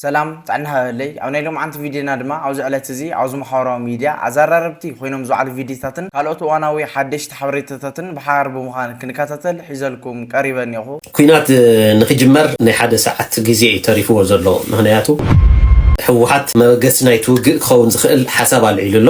ሰላም ጥዕና ሃበለይ ኣብ ናይ ሎምዓንቲ ቪድዮና ድማ ኣብዚ ዕለት እዚ ኣብዚ ማሕበራዊ ሚድያ ኣዛራረብቲ ኮይኖም ዝውዓሉ ቪድዮታትን ካልኦት እዋናዊ ሓደሽቲ ሓበሬታታትን ብሓባር ብምዃን ክንከታተል ሒዘልኩም ቀሪበ እኔኹ። ኲናት ንኽጅመር ናይ ሓደ ሰዓት ግዜ እዩ ተሪፍዎ ዘሎ ምኽንያቱ ህወሓት መበገሲ ናይቲ ውግእ ክኸውን ዝኽእል ሓሳብ ኣልዒሉ ኣሎ።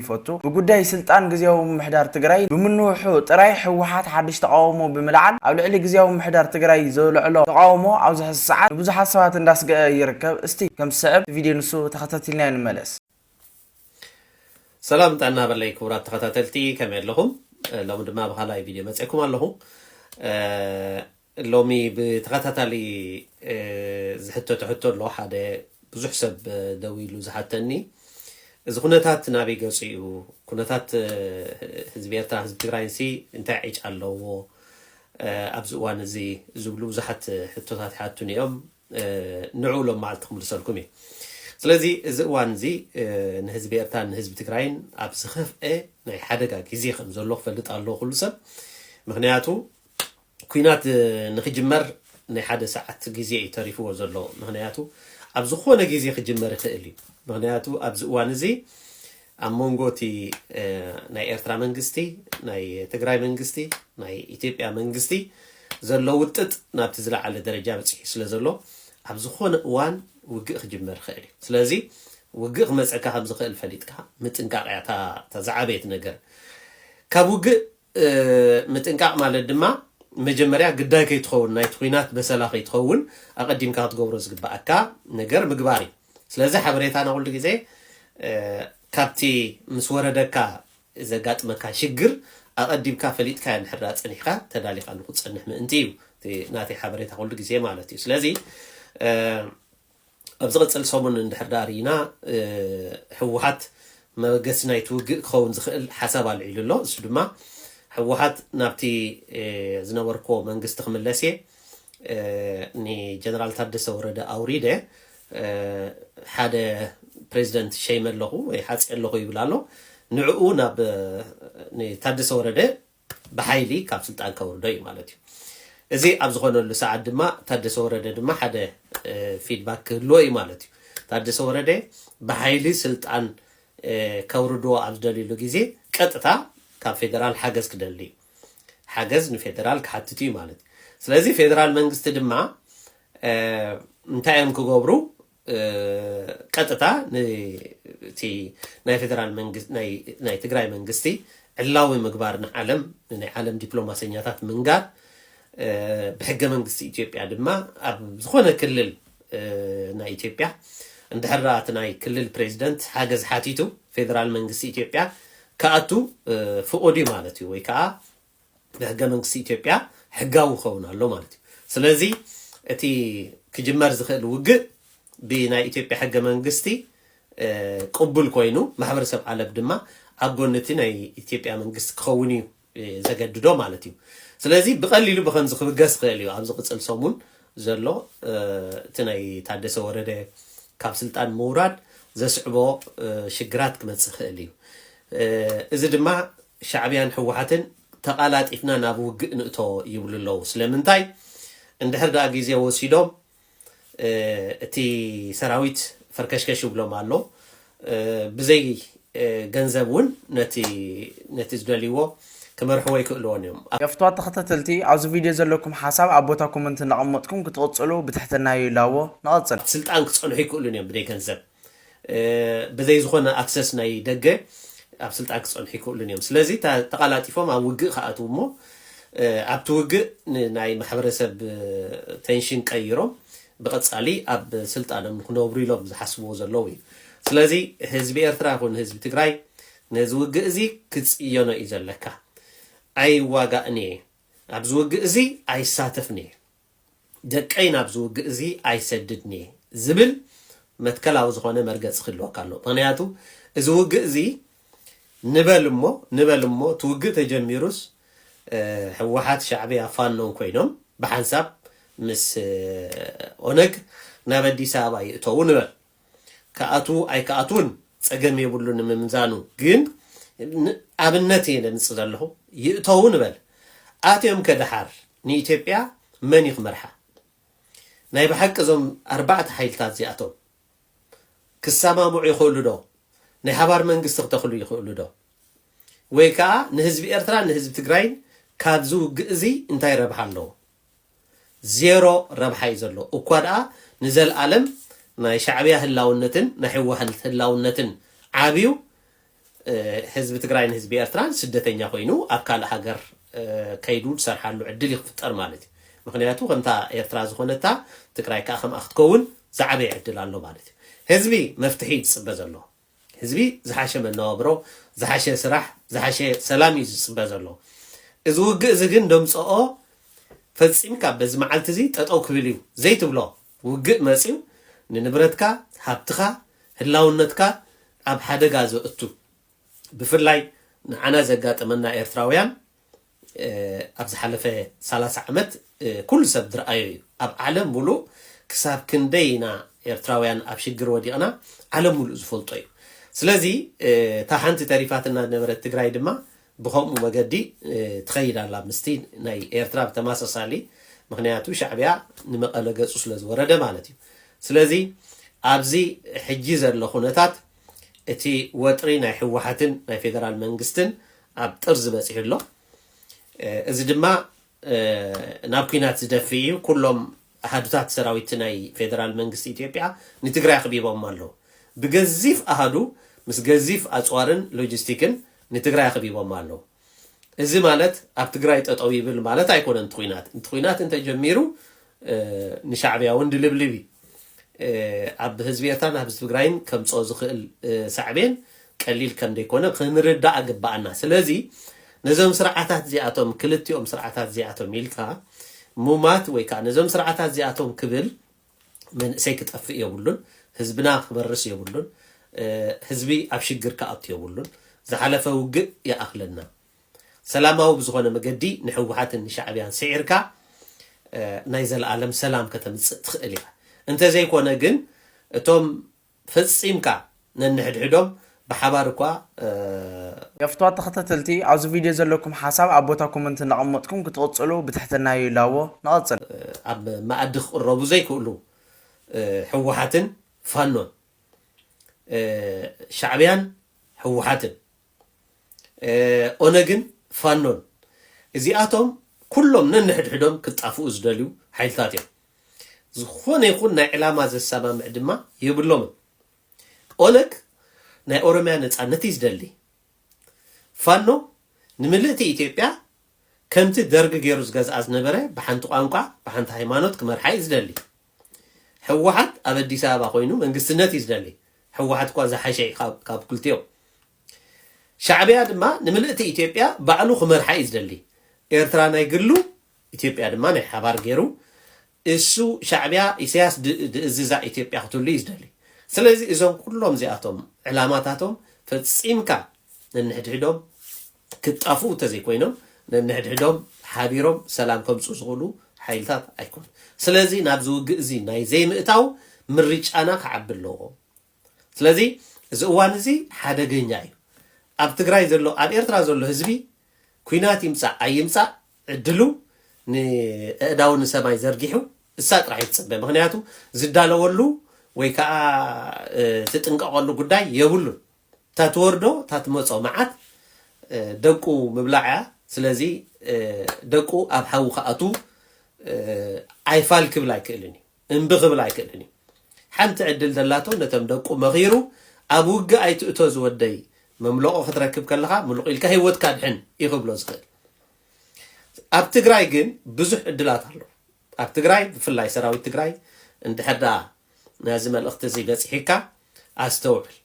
ይፈቱ። ብጉዳይ ስልጣን ግዝያዊ ምምሕዳር ትግራይ ብምንውሑ ጥራይ ህወሓት ሓድሽ ተቓውሞ ብምልዓል ኣብ ልዕሊ ግዝያዊ ምምሕዳር ትግራይ ዘልዕሎ ተቓውሞ ኣብዚ ሕዚ ሰዓት ንብዙሓት ሰባት እንዳስገኣ ይርከብ። እስቲ ከም ዝስዕብ እቲ ቪድዮ ንሱ ተኸታቲልናዮ ንመለስ። ሰላም ጥዕና በለይ ክቡራት ተኸታተልቲ ከመይ ኣለኹም ሎሚ ድማ ብኻልኣይ ቪድዮ መፅኤኩም ኣለኹ። ሎሚ ብተኸታታሊ ዝሕተቶ ሕቶ ኣሎ፣ ሓደ ብዙሕ ሰብ ደዊሉ ዝሓተኒ፣ እዚ ኩነታት ናበይ ገጹ እዩ፣ ኩነታት ህዝቢ ኤርትራን ህዝቢ ትግራይንሲ እንታይ ዕጫ ኣለዎ ኣብዚ እዋን እዚ ዝብሉ ብዙሓት ሕቶታት ይሓቱኒ እዮም፣ ንዕኡ ሎምዓልቲ ክምልሰልኩም እየ። ስለዚ እዚ እዋን እዚ ንህዝቢ ኤርትራን ንህዝቢ ትግራይን ኣብ ዝኸፍኤ ናይ ሓደጋ ግዜ ከም ዘሎ ክፈልጥ ኣለዎ ኩሉ ሰብ፣ ምኽንያቱ ኩናት ንክጅመር ናይ ሓደ ሰዓት ግዜ እዩ ተሪፍዎ ዘሎ ምክንያቱ ኣብ ዝኮነ ግዜ ክጅመር ይክእል እዩ ምክንያቱ ኣብዚ እዋን እዚ ኣብ መንጎ እቲ ናይ ኤርትራ መንግስቲ ናይ ትግራይ መንግስቲ ናይ ኢትዮጵያ መንግስቲ ዘሎ ውጥጥ ናብቲ ዝለዓለ ደረጃ በፂሑ ስለ ዘሎ ኣብ ዝኾነ እዋን ውግእ ክጅመር ይኽእል እዩ ስለዚ ውግእ ክመፀካ ከም ዝኽእል ፈሊጥካ ምጥንቃቕ እያ እታ ዝዓበየት ነገር ካብ ውግእ ምጥንቃቕ ማለት ድማ መጀመርያ ግዳይ ከይትኸውን ናይቲ ኹናት በሰላ ከይትኸውን ኣቐዲምካ ክትገብሮ ዝግበኣካ ነገር ምግባር እዩ። ስለዚ ሓበሬታና ኩሉ ግዜ ካብቲ ምስ ወረደካ ዘጋጥመካ ሽግር ኣቐዲምካ ፈሊጥካዮ እንድሕር ፀኒሕካ ተዳሊኻሉ ክትፀንሕ ምእንቲ እዩ እቲ ናተይ ሓበሬታ ኩሉ ግዜ ማለት እዩ። ስለዚ ኣብ ዝቕጽል ሰሙን እንድሕር ደኣ ርኢና ህወሓት መበገሲ ናይቲ ውግእ ክኸውን ዝኽእል ሓሳብ ኣልዒሉ ኣሎ። ንሱ ድማ ህወሓት ናብቲ ዝነበርኩዎ መንግስቲ ክምለስ እየ፣ ንጀነራል ታደሰ ወረደ ኣውሪደ ሓደ ፕሬዚደንት ሸይመ ኣለኹ ወይ ሓጽየ ኣለኹ ይብል ኣሎ። ንዕኡ ናብ ንታደሰ ወረደ ብሓይሊ ካብ ስልጣን ከውርዶ እዩ ማለት እዩ። እዚ ኣብ ዝኾነሉ ሰዓት ድማ ታደሰ ወረደ ድማ ሓደ ፊድባክ ክህልዎ እዩ ማለት እዩ። ታደሰ ወረደ ብሓይሊ ስልጣን ከውርድዎ ኣብ ዝደልዩሉ ግዜ ቀጥታ ካብ ፌደራል ሓገዝ ክደሊ እዩ። ሓገዝ ንፌደራል ክሓትት እዩ ማለት እዩ። ስለዚ ፌደራል መንግስቲ ድማ እንታይ እዮም ክገብሩ ቀጥታ ንቲ ናይ ፌደራል መንግስቲ ናይ ትግራይ መንግስቲ ዕላዊ ምግባር ንዓለም ንናይ ዓለም ዲፕሎማሰኛታት ምንጋር ብሕገ መንግስቲ ኢትዮጵያ ድማ ኣብ ዝኾነ ክልል ናይ ኢትዮጵያ እንድሕር እቲ ናይ ክልል ፕሬዚደንት ሓገዝ ሓቲቱ ፌደራል መንግስቲ ኢትዮጵያ ክኣቱ ፍቑድ እዩ ማለት እዩ ወይ ከዓ ብሕገ መንግስቲ ኢትዮጵያ ሕጋዊ ክኸውን ኣሎ ማለት እዩ። ስለዚ እቲ ክጅመር ዝኽእል ውግእ ብናይ ኢትዮጵያ ሕገ መንግስቲ ቅቡል ኮይኑ ማሕበረሰብ ዓለም ድማ ኣብ ጎኒ እቲ ናይ ኢትዮጵያ መንግስቲ ክኸውን እዩ ዘገድዶ ማለት እዩ። ስለዚ ብቐሊሉ ብከምዚ ክብገስ ይኽእል እዩ ኣብ ዝቕፅል ሰሙን ዘሎ እቲ ናይ ታደሰ ወረደ ካብ ስልጣን ምውራድ ዘስዕቦ ሽግራት ክመፅእ ይኽእል እዩ። እዚ ድማ ሻዕብያን ህወሓትን ተቓላጢፍና ናብ ውግእ ንእቶ ይብሉ ኣለዉ። ስለምንታይ? እንድሕር ደኣ ግዜ ወሲዶም እቲ ሰራዊት ፈርከሽከሽ ይብሎም ኣሎ። ብዘይ ገንዘብ እውን ነቲ ዝደልይዎ ክመርሕዎ ኣይክእልዎን እዮም። የፍትዋ ተኸታተልቲ ኣብዚ ቪድዮ ዘለኩም ሓሳብ ኣብ ቦታ ኮመንት እንዳቐመጥኩም ክትቕጽሉ ብትሕትና ይላቦ። ንቐጽል። ኣብ ስልጣን ክጸንሑ ኣይክእሉን እዮም ብደይ ገንዘብ። ብዘይ ዝኾነ ኣክሰስ ናይ ደገ ኣብ ስልጣን ክጸንሑ ኣይክእሉን እዮም። ስለዚ ተቓላጢፎም ኣብ ውግእ ክኣትው እሞ ኣብቲ ውግእ ንናይ ማሕበረሰብ ቴንሽን ቀይሮም ብቐጻሊ ኣብ ስልጣኖም ንክነብሩ ኢሎም ዝሓስብዎ ዘለዉ እዩ። ስለዚ ህዝቢ ኤርትራ ይኹን ህዝቢ ትግራይ ነዚ ውግእ እዚ ክጽየኖ እዩ ዘለካ። ኣይዋጋእን እየ ኣብዚ ውግእ እዚ ኣይሳተፍን እየ። ደቀይ ናብዚ ውግእ እዚ ኣይሰድድን'የ ዝብል መትከላዊ ዝኾነ መርገጺ ክህልወካ ኣለዎ። ምኽንያቱ እዚ ውግእ እዚ ንበል እሞ ንበል እሞ እቲ ውግእ ተጀሚሩስ ህወሓት፣ ሻዕብያ፣ ፋኖን ኮይኖም ብሓንሳብ ምስ ኦነግ ናብ ኣዲስ ኣበባ ይእተዉ ንበል። ክኣትዉ ኣይክኣትዉን ጸገም የብሉን ንምምዛኑ ግን ን ኣብነት እየ ዘምጽእ ዘለኹ ይእተዉ ንበል ኣትዮምከ ደሓር ንኢትዮጵያ መን እዩ ክመርሓ ናይ ብሓቂ እዞም ኣርባዕተ ሓይልታት እዚኣቶም ክሰማምዑ ይኽእሉ ዶ ናይ ሓባር መንግስቲ ክተኽሉ ይኽእሉ ዶ ወይ ከኣ ንህዝቢ ኤርትራን ንህዝቢ ትግራይን ካብዚ ውግእ እዚ እንታይ ረብሓ ኣለዎ ዜሮ ረብሓ እዩ ዘሎ እኳ ድኣ ንዘልኣለም ናይ ሻዕብያ ህላውነትን ናይ ህወሓት ህላውነትን ዓብዩ ህዝቢ ትግራይን ህዝቢ ኤርትራን ስደተኛ ኮይኑ ኣብ ካልእ ሃገር ከይዱ ዝሰርሓሉ ዕድል እዩ ክፍጠር ማለት እዩ ምክንያቱ ከምታ ኤርትራ ዝኾነታ ትግራይ ከዓ ከምኣ ክትከውን ዝዓበየ ዕድል ኣሎ ማለት እዩ ህዝቢ መፍትሒ እዩ ዝፅበ ዘሎ ህዝቢ ዝሓሸ መነባብሮ፣ ዝሓሸ ስራሕ፣ ዝሓሸ ሰላም እዩ ዝጽበ ዘሎ። እዚ ውግእ እዚ ግን ደምጸኦ ፈጺምካ በዚ መዓልቲ እዚ ጠጠው ክብል እዩ ዘይትብሎ ውግእ መጺኡ ንንብረትካ፣ ሃብትኻ፣ ህላውነትካ ኣብ ሓደጋ ዘእቱ ብፍላይ ንዓና ዘጋጠመና ኤርትራውያን ኣብ ዝሓለፈ ሰላሳ ዓመት ኩሉ ሰብ ዝርኣዮ እዩ ኣብ ዓለም ሙሉእ ክሳብ ክንደይ ኢና ኤርትራውያን ኣብ ሽግር ወዲቕና ዓለም ሙሉእ ዝፈልጦ እዩ ስለዚ እታ ሓንቲ ተሪፋትና ዝነበረት ትግራይ ድማ ብከምኡ መገዲ ትኸይድ ኣላ ምስቲ ናይ ኤርትራ ብተመሳሳሊ ምክንያቱ ሻዕቢያ ንመቐለ ገጹ ስለ ዝወረደ ማለት እዩ ስለዚ ኣብዚ ሕጂ ዘሎ ኩነታት እቲ ወጥሪ ናይ ህወሓትን ናይ ፌደራል መንግስትን ኣብ ጥርዚ በጺሑ ኣሎ። እዚ ድማ ናብ ኩናት ዝደፍእ እዩ። ኩሎም ኣሃዱታት ሰራዊት ናይ ፌደራል መንግስቲ ኢትዮጵያ ንትግራይ ኣኽቢቦማ ኣለዉ። ብገዚፍ ኣሃዱ ምስ ገዚፍ ኣጽዋርን ሎጂስቲክን ንትግራይ ኣኽቢቦማ ኣለዉ። እዚ ማለት ኣብ ትግራይ ጠጠው ይብል ማለት ኣይኮነን እቲ ኩናት። እቲ ኩናት እንተጀሚሩ ንሻዕብያ ውን ድልብልብ እዩ ኣብ ህዝቢ ኤርትራን ኣብ ህዝቢ ትግራይን ከምጽኦ ዝኽእል ሳዕቤን ቀሊል ከምደይኮነ ክንርዳእ ኣግባኣና ስለዚ ነዞም ስርዓታት እዚኣቶም ክልቲኦም ስርዓታት እዚኣቶም ኢልካ ሙማት ወይ ከኣ ነዞም ስርዓታት እዚኣቶም ክብል መንእሰይ ክጠፍእ የብሉን ህዝብና ክበርስ የብሉን ህዝቢ ኣብ ሽግር ክኣቱ የብሉን ዝሓለፈ ውግእ ይኣኽለና። ሰላማዊ ብዝኾነ መገዲ ንሕወሓትን ንሻዕብያን ስዒርካ ናይ ዘልኣለም ሰላም ከተምጽእ ትኽእል ኢኻ። እንተዘይኮነ ግን እቶም ፈጺምካ ነንሕድሕዶም ብሓባር እኳ እ። ገፍቷት ተኸታተልቲ ኣብዚ ቪድዮ ዘለኩም ሓሳብ ኣብ ቦታ ኮመንት እንዳቐመጥኩም ክትቕጽሉ ብትሕትና ይላቦ። ንቐጽል። ኣብ መኣዲ ክቕረቡ ዘይክእሉ ሕወሓትን ፋኖን፣ ሻዕብያን ሕወሓትን፣ ኦነግን ፋኖን እዚኣቶም ኩሎም ነንሕድሕዶም ክጣፍኡ ዝደልዩ ሓይልታት እዮም። ዝኾነ ይኹን ናይ ዕላማ ዘሰማምዕ ድማ የብሎምን። ኦነግ ናይ ኦሮሚያ ነፃነት እዩ ዝደሊ። ፋኖ ንምልእቲ ኢትዮጵያ ከምቲ ደርግ ገይሩ ዝገዝኣ ዝነበረ ብሓንቲ ቋንቋ ብሓንቲ ሃይማኖት ክመርሓ እዩ ዝደሊ። ሕወሓት ኣብ ኣዲስ ኣበባ ኮይኑ መንግስትነት እዩ ዝደሊ ሕወሓት እኳ ዝሓሸ እዩ ካብ ክልቲኦም ሻዕቢያ ድማ ንምልእቲ ኢትዮጵያ ባዕሉ ክመርሓ እዩ ዝደሊ ኤርትራ ናይ ግሉ ኢትዮጵያ ድማ ናይ ሓባር ገይሩ እሱ ሻዕቢያ ኢሳያስ ድእዝዛ ኢትዮጵያ ክትህሉ እዩ ዝደሊ ስለዚ እዞም ኩሎም እዚኣቶም ዕላማታቶም ፈጺምካ ነንሕድሕዶም ክጣፍኡ እንተዘይኮይኖም ነንሕድሕዶም ሓቢሮም ሰላም ከምጽኡ ዝኽእሉ ሓይልታት ኣይኮኑን። ስለዚ ናብዚ ውግእ እዚ ናይ ዘይምእታው ምርጫና ክዓቢ ኣለዎ። ስለዚ እዚ እዋን እዚ ሓደገኛ እዩ። ኣብ ትግራይ ዘሎ ኣብ ኤርትራ ዘሎ ህዝቢ ኩናት ይምጻእ ኣይምጻእ ዕድሉ ንእእዳው ንሰማይ ዘርጊሑ እሳ ጥራሕ ይጽበ ምክንያቱ ዝዳለወሉ ወይ ከዓ ትጥንቀቐሉ ጉዳይ የብሉን። እታ ትወርዶ እታ ትመጾ መዓት ደቁ ምብላዕ እያ ስለዚ ደቁ ኣብ ሓዊ ክኣትው ኣይፋል ክብል ኣይክእልን እዩ እምቢ ክብል ኣይክእልን እዩ ሓንቲ ዕድል ዘላቶ ነቶም ደቁ መኺሩ ኣብ ውግእ ኣይትእቶ ዝወደይ መምለቆ ክትረክብ ከለኻ ምልቑ ኢልካ ሂወትካ ኣድሕን እዩ ክብሎ ዝኽእል ኣብ ትግራይ ግን ብዙሕ ዕድላት ኣሎ ኣብ ትግራይ ብፍላይ ሰራዊት ትግራይ እንድሕር ድኣ ነዚ መልእኽቲ እዚ በጺሒካ ኣስተውዕል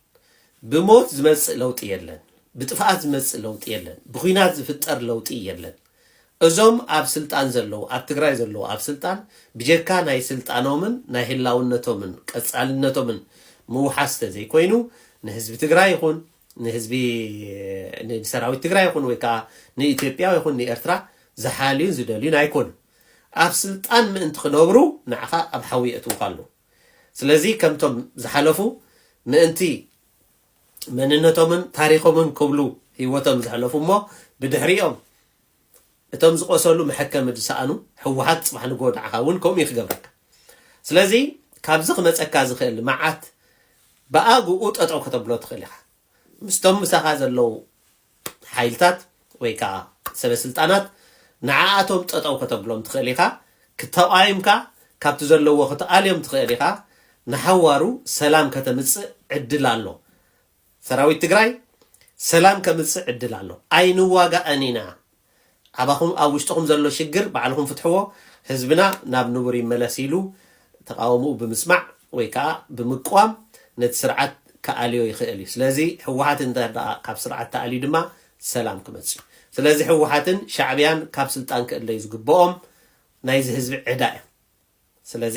ብሞት ዝመጽእ ለውጢ የለን ብጥፍኣት ዝመጽእ ለውጢ የለን ብኩናት ዝፍጠር ለውጢ የለን እዞም ኣብ ስልጣን ዘለዉ ኣብ ትግራይ ዘለዉ ኣብ ስልጣን ብጀካ ናይ ስልጣኖምን ናይ ህላውነቶምን ቀጻልነቶምን ምውሓስ ተዘይኮይኑ ንህዝቢ ትግራይ ይኹን ንህዝቢ ንሰራዊት ትግራይ ይኹን ወይ ከዓ ንኢትዮጵያ ይኹን ንኤርትራ ዝሓልዩን ዝደልዩን ኣይኮኑን ኣብ ስልጣን ምእንቲ ክነብሩ ንዓኻ ኣብ ሓዊ የእትዉኻ ኣለዉ። ስለዚ ከምቶም ዝሓለፉ ምእንቲ መንነቶምን ታሪኾምን ክብሉ ህይወቶም ዘሕለፉ እሞ ብድሕሪኦም እቶም ዝቖሰሉ መሐከሚ ዝሰኣኑ ህወሓት ጽባሕ ንግሆ ንዓኻ እውን ከምኡ እዩ ክገብረካ። ስለዚ ካብዚ ክመጸካ ዝኽእል መዓት ብኣግኡ ጠጠው ከተብሎ ትኽእል ኢኻ። ምስቶም ምሳኻ ዘለዉ ሓይልታት ወይ ከኣ ሰበ ስልጣናት ንዓኣቶም ጠጠው ከተብሎም ትኽእል ኢኻ፣ ክተቓይምካ ካብቲ ዘለዎ ክትኣልዮም ትኽእል ኢኻ፣ ንሓዋሩ ሰላም ከተምጽእ ዕድል ኣሎ። ሰራዊት ትግራይ ሰላም ከምጽእ ዕድል ኣሎ። ኣይንዋጋእን ኢና። ኣባኹም ኣብ ውሽጥኹም ዘሎ ሽግር ባዕልኹም ፍትሕዎ ህዝብና ናብ ንቡር ይመለስ ኢሉ ተቓውምኡ ብምስማዕ ወይ ከኣ ብምቅዋም ነቲ ስርዓት ክኣልዮ ይኽእል እዩ ስለዚ ህወሓት እንተድኣ ካብ ስርዓት ተኣልዩ ድማ ሰላም ክመጽእ እዩ ስለዚ ህወሓትን ሻዕብያን ካብ ስልጣን ክእለዩ ዝግብኦም ናይዚ ህዝቢ ዕዳ እዮም ስለዚ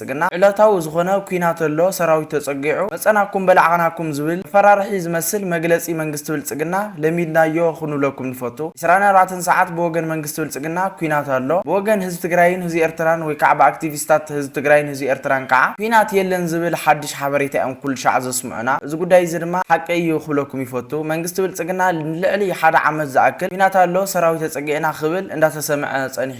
ብልጽግና ዕለታዊ ዝኾነ ኩናት ኣሎ ሰራዊት ተጸጊዑ መጸናኩም በላዕናኩም ዝብል መፈራርሒ ዝመስል መግለጺ መንግስቲ ብልጽግና ለሚድናዮ ኹንብለኩም ንፈቱ ዕስራን ኣርባዕተን ሰዓት ብወገን መንግስቲ ብልጽግና ኩናት ኣሎ ብወገን ህዝቢ ትግራይን ህዝቢ ኤርትራን ወይ ካዓ ብኣክቲቪስታት ህዝቢ ትግራይን ህዝቢ ኤርትራን ካዓ ኩናት የለን ዝብል ሓድሽ ሓበሬታ እዮም ኩልሻዕ ዘስምዑና እዚ ጉዳይ እዚ ድማ ሓቂ እዩ ኹብለኩም ይፈቱ መንግስቲ ብልጽግና ንልዕሊ ሓደ ዓመት ዝኣክል ኩናት ኣሎ ሰራዊት ተጸጊዕና ኽብል እንዳተሰምዐ ጸኒሑ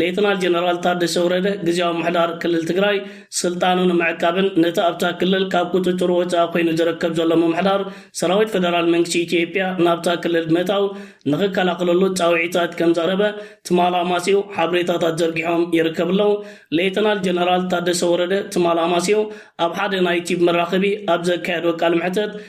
ሌተናል ጀነራል ታደሰ ወረደ፣ ግዝያዊ ምምሕዳር ክልል ትግራይ ስልጣኑ ንምዕቃብን ነቲ ኣብታ ክልል ካብ ቁፅፅሩ ወፃኢ ኮይኑ ዝርከብ ዘሎ ምምሕዳር ሰራዊት ፌደራል መንግስቲ ኢትዮጵያ ናብታ ክልል ብምእታው ንኽከላኸለሉ ፃውዒታት ከምዘቕረበ ትማል ኣማሲዩ ሓበሬታታት ዘርጊሖም ይርከቡ ኣለው። ሌተናል ጀነራል ታደሰ ወረደ ትማል ኣማሲዩ ኣብ ሓደ ናይ ቲቪ መራኸቢ ኣብ ዘካየዶ ቃለ መሕተት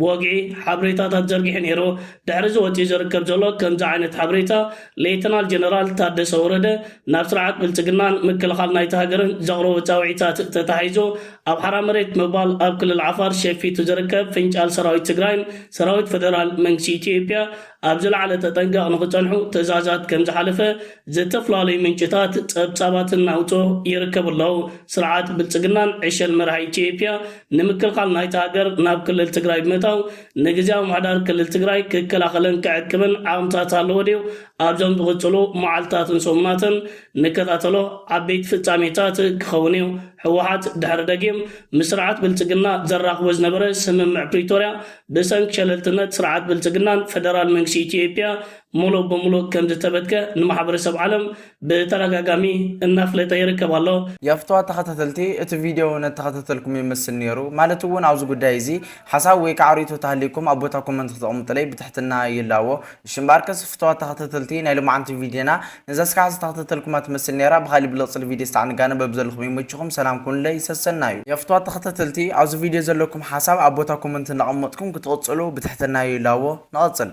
ብወግዒ ሓብሬታታት ዘርጊሑ ነይሩ። ድሕሪ እዚ ወጺኡ ዝርከብ ዘሎ ከምዚ ዓይነት ሓብሬታ ሌተናል ጀነራል ታደሰ ወረደ ናብ ስርዓት ብልጽግናን ምክልኻል ናይታ ሃገርን ዘቕረቦ ጻውዒታት ተታሒዙ ኣብ ሓራ መሬት ምባል ኣብ ክልል ዓፋር ሸፊቱ ዝርከብ ፍንጫል ሰራዊት ትግራይን ሰራዊት ፈደራል መንግስቲ ኢትዮጵያ ኣብ ዝለዓለ ተጠንቀቕ ንኽጸንሑ ትእዛዛት ከም ዝሓለፈ ዝተፈላለዩ ምንጭታት ጸብጻባት እናውጽኡ ይርከቡ ኣለው። ስርዓት ብልጽግናን ዕሸል መራሒ ኢትዬጵያ ንምክልኻል ናይታ ሃገር ናብ ክልል ትግራይ ብምእታው ንግዝያዊ ምሕዳር ክልል ትግራይ ክከላኸልን ክዕቅብን ዓቕምታት ኣለዎ ድዩ? ኣብዞም ዝቕጽሉ መዓልታትን ሰሙናትን ንከታተሎ ዓበይቲ ፍጻሜታት ክኸውን እዩ። ህወሓት ድሕሪ ደጊም ምስ ስርዓት ብልጽግና ዘራኽቦ ዝነበረ ስምምዕ ፕሪቶርያ ብሰንኪ ሸለልትነት ስርዓት ብልጽግናን ፈደራል መንግስቲ ኢትዮጵያ ሙሉእ ብሙሉእ ከምዝተበትከ ንማሕበረሰብ ዓለም ብተዳጋጋሚ እናፍለጠ ይርከብ ኣሎ። የፍትዋ ተኸታተልቲ እቲ ቪድዮ እነተኸታተልኩም ይመስል ኔሩ ማለት ውን ኣብዚ ጉዳይ እዚ ሓሳብ ወይ ካዓ ሪኢቶ ተሃልይኩም ኣብ ቦታ ኮመንት ክተቅምጥለይ ብትሕትና ይላዎ እሺ እምበኣርከስ ፍትዋት ተኸታተልቲ ናይ ሎማዓንቲ ቪድዮና ነዛ ስራሕ ዝተክተተልኩማ ትመስል ኔራ ብካሊእ ብልቅጽል ቪድዮ ስታዕ ንጋነ በብዘለኩም ይመችኩም ሰላም ኩኑለይ ሰሰናዩ። የፍትዋት ተከታተልቲ ኣብዚ ቪድዮ ዘለኩም ሓሳብ ኣብ ቦታ ኮመንት እንዳቀመጥኩም ክትቅጽሉ ብትሕትና ይላቦ። ንቀጽል።